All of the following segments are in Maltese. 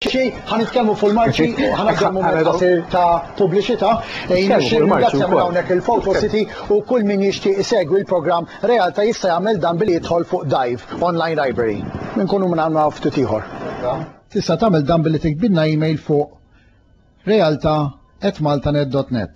Xi ħa nitkellmu fuq il-marċi u ħa nagħżel mument qasir ta' pubbliċità. Nixtieq nirringrazzja minn hawnhekk lil Photo City u kull min jixtieq isegwi l-programm Realta' jista' jagħmel dan billi jidħol fuq Dive, online library. Inkunu minn hawn għal ftit ieħor. Tista' tagħmel dan billi tiktbilna email fuq realta@maltanet.net.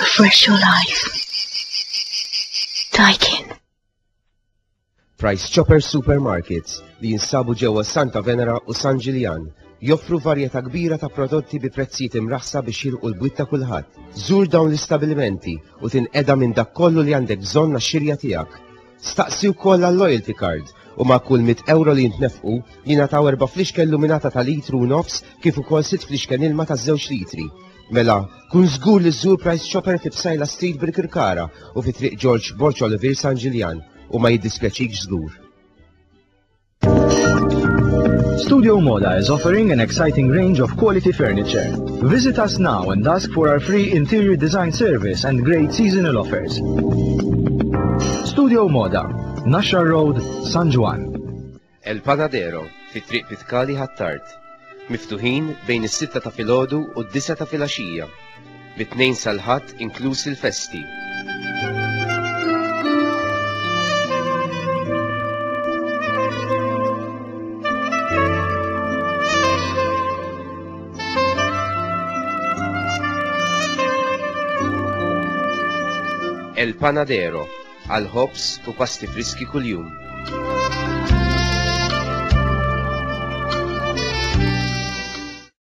Refresh your life. Daikin. Price Chopper Supermarkets li jinsabu ġewwa Santa Venera u San Ġiljan joffru varjetà kbira ta' prodotti bi prezzijiet imraħsa biex jilqu l-bwit ta' kulħadd. Żur dawn l-istabilimenti u tinqeda minn dak kollu li għandek bżonn għax-xirja tiegħek. Staqsi wkoll għal-loyalty card u ma' kull mitt ewro li jintnefqu, jingħataw erba' flixken luminata ta' litru u nofs kif ukoll sitt flixken ilma ta' żewġ litri. Mela, kun żgur li żżur Price Chopper fi Psaila Street Birkirkara u fi Triq Ġorġ Borg Olivier San Ġiljan, u ma jiddispjaċikx żgur. Studio Moda is offering an exciting range of quality furniture. Visit us now and ask for our free interior design service and great seasonal offers. Studio Moda, Nashar Road, San Juan. El Panadero, fit triq Pitkali Hattart. Miftuħin bejn is-sitta ta' filgħodu u d-disa ta' filgħaxija. mit-Tnejn sal-Ħadd inkluż il-festi. El Panadero għal ħobs u pasti friski kuljum.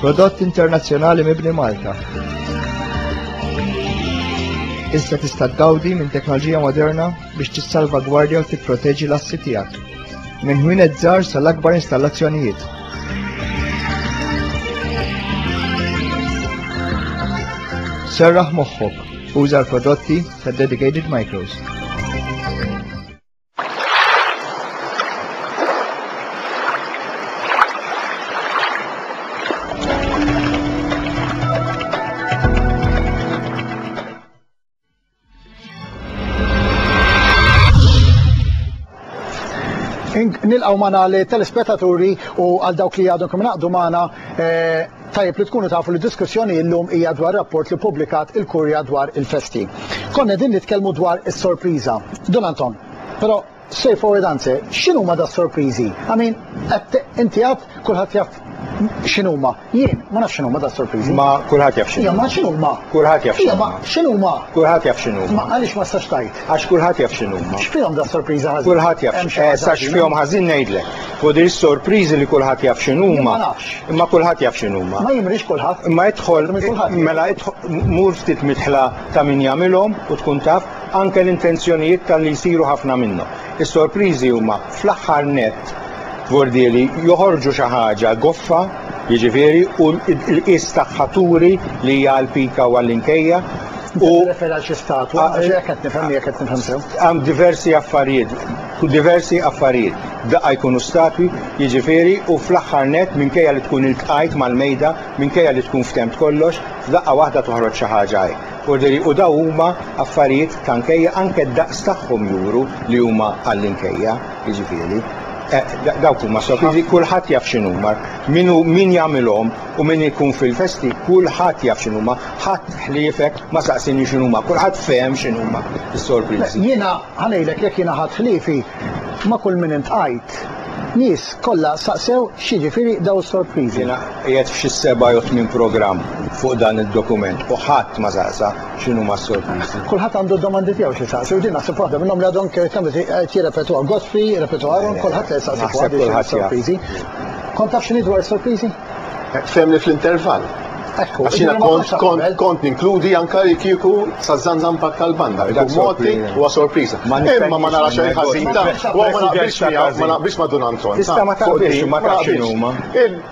Prodott internazzjonali mibni Malta. Issa tista' tgawdi minn teknoloġija moderna biex tissalvagwardja u tipproteġi l-assi tiegħek. Minn ħwin żgħar sal-akbar installazzjonijiet. Serraħ moħħok, uża l-prodotti ta' Dedicated Micros. nilqaw mana li telespettaturi u għal dawk li għadhom kemm naqdu mana eh, Tajjeb li tkunu tafu li d-diskussjoni illum hija dwar rapport li ppubblikat il-Kurja dwar il-festi. Kont qegħdin nitkellmu dwar is-sorpriża. Dun Anton, però straight forward answer, x'inhuma das-sorpriżi? I mean, qed inti għad kulħadd jaf x'inhuma. Jien ma nafx x'inhuma das-sorpriżi. Ma kulħadd jaf x'inhuma. Imma x'inhuma? Kulħadd jaf x'inhuma. Imma x'inhuma? Kulħadd jaf x'inhuma. Imma għaliex ma tistax tgħid? Għax kulħadd jaf x'inhuma. X'fihom das-sorpriża ħażin? Kulħadd jaf Hemm xi ħaġa sa x'fihom ħażin ngħidlek. Fuq din is-sorpriżi li kulħadd jaf x'inhuma. Ma nafx. Imma kulħadd jaf x'inhuma. Ma jimrix kulħadd. Imma idħol mela mur ftit midħla ta' min jagħmilhom u tkun taf anke l-intenzjonijiet talli jsiru ħafna minnhom. Is-sorpriżi huma fl-aħħar nett vordieli joħorġu xi ħaġa goffa, jiġifieri u l-qies tagħha turi li hija għall-pika u għall-inkejja, U refer għal xi statwa, għax jekk qed nifhem jekk qed nifhem sew. Hemm diversi affarijiet, diversi affarijiet. Daqqa jkunu statwi, jiġifieri, u fl-aħħar net minkejja li tkun iltqajt mal-mejda, minkejja li tkun ftemt kollox, f'daqqa waħda toħroġ xi ħaġa hi. Orderi, u daw huma affarijiet ta' nkejja, anke d-daqs tagħhom juru li huma għall-inkejja, jiġifieri. Eh, dawk huma sofiżi, kulħadd jaf x'inhuma, min jagħmilhom, U min ikun fil-festi, kulħadd jaf x'inhuma. Ħadd ħliefek ma saqsieni x'inhuma. Kulħadd fehem x'inhuma s-sorpriżi. Jiena ħa ngħidlek jekk jiena ħadt ħliefi ma' kull min iltqajt. Nies kollha saqsew x'jiġifieri dawn is-sorpriżi. Jiena qiegħed f'xi seba' jew tmien programm fuq dan id-dokument u ħadd ma saqsa x'inhuma s-sorpriżi. Kulħadd għandu d-domandi tiegħu x'isaqsi u din naħseb waħda minnhom li għadhom qed jirrepetwha. Godfrey, repetwha, Aaron, kulħadd qed isaqsi fuqha din x'inhuma s-sorpriżi. Kont taf x'inhi dwar is-sorpriżi? Fehmni fl-intervall. Ekku. Għax jiena kont kont kont ninkludi anke li kieku saż-żanżampak tal-banda. Ikun moti huwa sorpriża. Imma ma narax xejn ħażin ta' ma naqbilx miegħu, ma naqbilx ma' Dun Anton. Tista' ma taqbilx, ma tafx x'inhuma.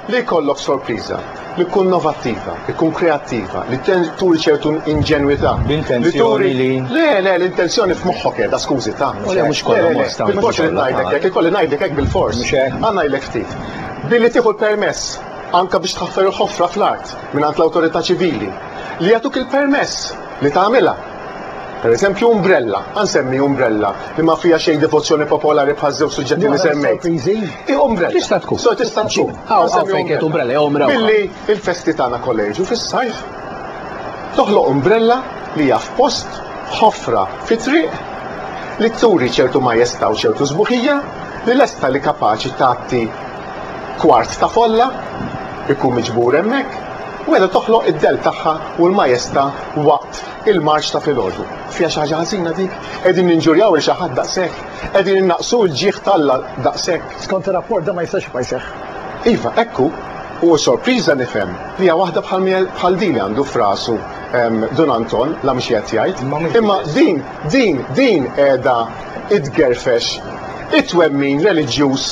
Li jkollok sorpriża. li tkun innovattiva, li tkun kreattiva, li turi ċertu inġenwità. B'intenzjoni li. Le, le, l-intenzjoni f'moħħok qiegħda, skużi ta'. U le mhux kollha ma nistgħu. Bil-fors irid ngħidlek hekk, ikolli ngħidlek hekk bil-fors. Mhux hekk? Ħa ngħidlek ftit. Billi tieħu l-permess anke biex tħaffer il-ħofra fl-art mingħand l-awtorità ċivili li jagħtuk il-permess li tagħmilha. Per eżempju, umbrella, għansemmi umbrella, li ma fija xej devozzjoni popolari bħal żewġ suġġetti li semmejt. I umbrella. Tista' tkun. So tista' tkun. Għaw, għaw, fejket umbrella, jew umbrella. Billi il-festi tagħna kolleġu fis-sajf, toħloq umbrella li hija f'post ħofra fit-triq li turi ċertu majesta u ċertu sbuħija li lesta li kapaċi tagħti Kwart ta' folla jkun miġbur hemmhekk u qiegħda toħloq id-dell tagħha u l-majesta waqt il-marċ ta' filgħodu. Fiha xi ħaġa ħażina dik? Qegħdin ninġurjaw lil xi ħadd daqshekk? Qegħdin innaqqsu l-ġieħ t'Alla daqshekk? Skont ir-rapport dan ma jistax jibqa' jseħħ. Iva, hekk hu. U sorpriża nifhem li hija waħda bħal din li għandu f'rasu Dun Anton, la mhux qiegħed jgħid. Imma din, din, din qiegħda tgerfex it-twemmin reliġjuż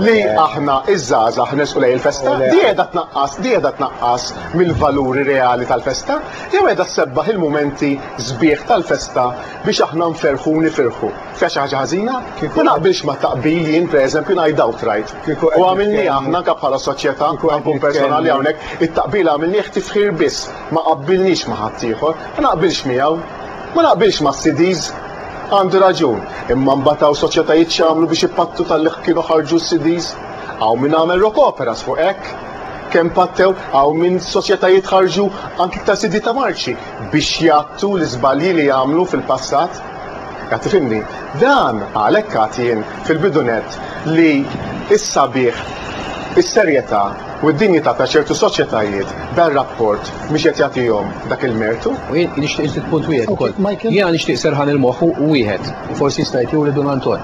li aħna iż-żgħażagħ nersqu lejn il-festa, di qiegħda tnaqqas, di qiegħda tnaqqas mill-valuri reali tal-festa, jew qiegħda ssebbaħ il-mumenti sbieħ tal-festa biex aħna nferrħu u nifirħu? Fiha xi ħaġa ħażina? Ma naqbilx mat-taqbil jien pereżempju ngħid outright. U għamilniha aħna anke bħala soċjetà, nkun personali hawnhekk, it-taqbil għamilnieh tifħir biss, ma qabbilniex ma' ħaddieħor, ma naqbilx miegħu. Ma naqbilx ma' Sidis. Għandu raġun. Imma mbagħad hawn soċjetajiet x'għamlu biex ipattu talli kienu ħarġu s-Sidis? Hawn min għamel rock operas fuq hekk. Kemm pattew? Hawn min soċjetajiet ħarġu anki iktar CD ta' marċi biex jgħattu l-iżbalji li għamlu fil-passat. Qed tifhimni? Dan għalhekk għad jien fil-bidu nett li s-sabiħ, is-serjetà, u d-dinjità ta' ċertu soċjetajiet dan ir-rapport mhix qed jagħtihom dak il-mertu. U jien nixtieq inżid punt wieħed ukoll. Jiena nixtieq serħan il-moħħ u wieħed, u forsi jista' jgħid jew lil Dun Anton,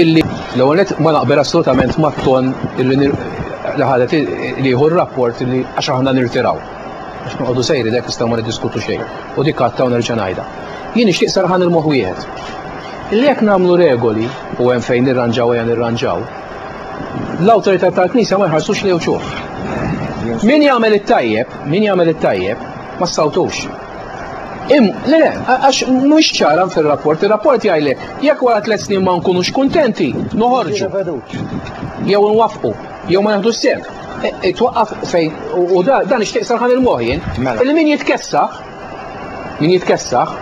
illi l-ewwel nett ma naqbel assolutament mat-ton illi li ħadet li jieħu r-rapport illi għax aħna nirtiraw. Għax noqogħdu sejri dek nistgħu ma niddiskutu xejn. U dik għadta u nerġa' ngħidha. Jien nixtieq serħan il-moħħ wieħed. Illi jekk nagħmlu regoli u hemm fejn nirranġaw ejja nirranġaw, l-awtorità tal-Knisja ma jħarsux li uċuħ. Min jagħmel it-tajjeb, min jagħmel it-tajjeb, ma sawtux. Im, le, le, għax mhux ċara fil-rapport, il-rapport jgħidlek, jekk wara tliet snin ma nkunux kuntenti, noħorġu. Jew nwaffqu, jew ma naħdu s-sem. E, e, twaqqaf fejn, u dan ixtieq sarħan il-moħjen, mela. il-min jitkessa, Min jitkessaħ,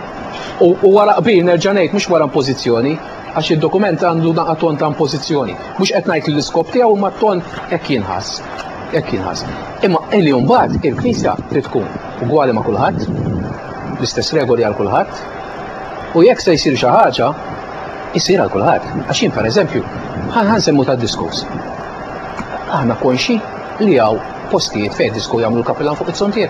u wara qbil nerġa' ngħid mhux wara impożizzjoni, għax id-dokument għandu naqa' ton ta' impożizzjoni. Mhux qed ngħid li l-iskop tiegħu imma ton hekk jinħass. Hekk jinħass. Imma illi mbagħad il-Knisja trid tkun ugwali ma' kulħadd, l-istess regoli għal kulħadd, u jekk se jsir xi ħaġa, isir għal kulħadd. Għax jien pereżempju, ħan semmu ta' diskus. Aħna konxi li hawn postijiet fejn disku jagħmlu l-kapilan fuq it-sontier.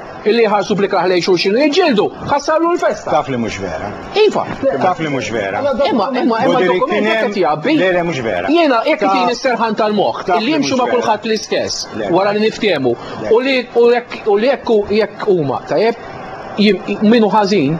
Illi jħarsu bl-ikrah lejn xulxin u jiġġieldu, ħassarlu l-festa. Taf li mhux vera. Iva. Taf li mhux vera. Imma imma imma dokument qed jgħabbi. Le le mhux vera. Jiena jekk itin is-serħan tal-moħħ li jimxu ma' kulħadd l-istess wara li niftehmu u li u jekk u jekk huma tajjeb min hu ħażin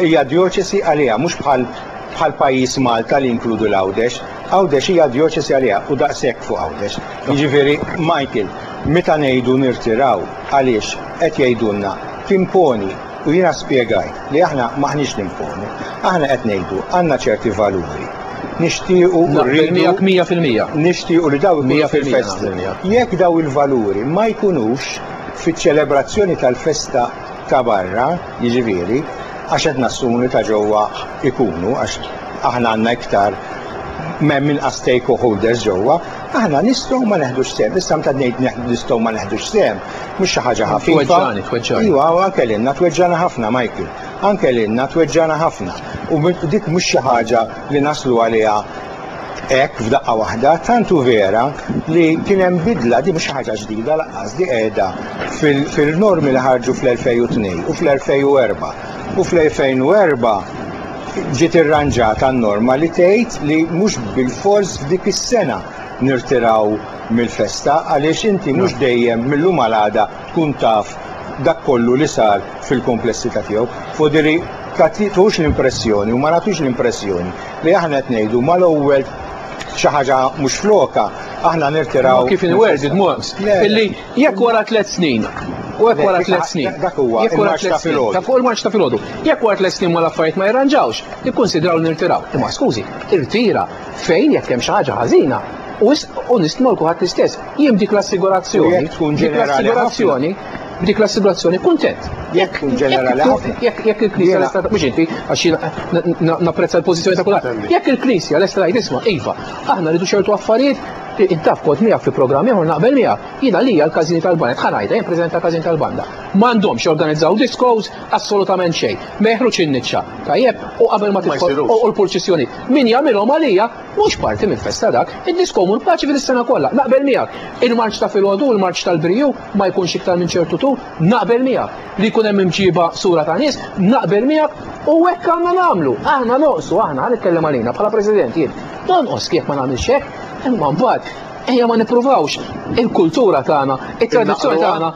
Hija djoċesi għaliha, mhux bħal bħal pajjiż Malta li jinkludu l-Għawdex. Għawdex hija djoċesi għaliha u daqshekk fuq Għawdex. Jiġifieri, Michael, meta ngħidu nirtiraw għaliex qed jgħidulna timponi u jiena spjegajt li aħna m'aħniex nimponu. Aħna qed ngħidu għandna ċerti valuri. Nixtiequ u rridu. Naqbel miegħek mija fil-mija. Nixtiequ li dawn ikunu fil-festa. Jekk dawn il-valuri ma jkunux fiċ-ċelebrazzjoni tal-festa ta' barra, jiġifieri, għax qed nassumu li ta' ġewwa jkunu, għax aħna għandna iktar, hemm inqas stakeholders ġewwa, aħna nistgħu ma neħdux sehem. Issa meta ngħid nistgħu ma neħdux sehem, mhux xi ħaġa ħafifa. Tweġġagħni, tweġġagħni. Iva, anke lilna tweġġagħna ħafna, Michael. Anke lilna tweġġagħna ħafna. U dik mhux xi ħaġa li naslu għaliha Hekk f'daqqa waħda tant hu vera li kien hemm bidla di mhux ħaġa ġdida laqqas di qiegħda fil-normi li ħarġu fl-2002 u fl-2004. U fl-2004 ġiet irranġata n-norma li tgħid li mhux bilfors f'dik is-sena nirtiraw mill-festa għaliex inti mhux dejjem mill-lum għal għada tkun taf dak kollu li sar fil-kumplessità tiegħu. Foderi, tagħtix l-impressjoni u ma nagħtux l-impressjoni Li aħna qed ngħidu mal-ewwel xi ħaġa mhux flokha, aħna nirtiraw. Kif inwerd id-dmuq. Illi jekk wara tliet snin u jekk wara tliet snin. Dak huwa. Jekk wara tliet snin. Ta' fuq il-marċ ta' filgħodu. Jekk wara tliet snin ma l-affarijiet ma jirranġawx, nikkunsidraw nirtiraw. Imma skużi, irtira fejn jekk hemm xi ħaġa ħażina u nistmolku ħadd l-istess. Jien dik l-assigurazzjoni, dik l-assigurazzjoni, dik l-assigurazzjoni kuntent. Jekk tkun ġenerali ħafna. Jekk il-Knisja lesta mhux inti għax jiena napprezza l-pożizzjoni ta' kulħadd. Jekk il-Knisja lesta tgħid isma' iva, aħna rridu ċertu affarijiet intaf kont miegħek fi programm ieħor naqbel miegħek. Jiena li għal każini tal-banda, tħa ngħidha jien preżenta każin tal-banda. M'għandhomx jorganizzaw diskos assolutament xejn. Ma jeħruġ in-niċċa. Tajjeb, u qabel ma tisħol u l-purċissjoni. Min jagħmilhom għalija Mhux parti minn festa dak, id-disko mur paċi fil sena kollha, naqbel miegħek. Il-marċ ta' filgħodu u l-marċ tal-briju ma jkunx iktar minn ċertu tul, naqbel miegħek. Li jkun hemm imġieba sura ta' nies, naqbel miegħek u hekk għandna nagħmlu. Aħna noqsu, aħna, ħa nitkellem għalina bħala President jien. Nonqos kif ma nagħmilx hekk, imma mbagħad ejja ma nippruvawx il-kultura tagħna, it-tradizzjoni tagħna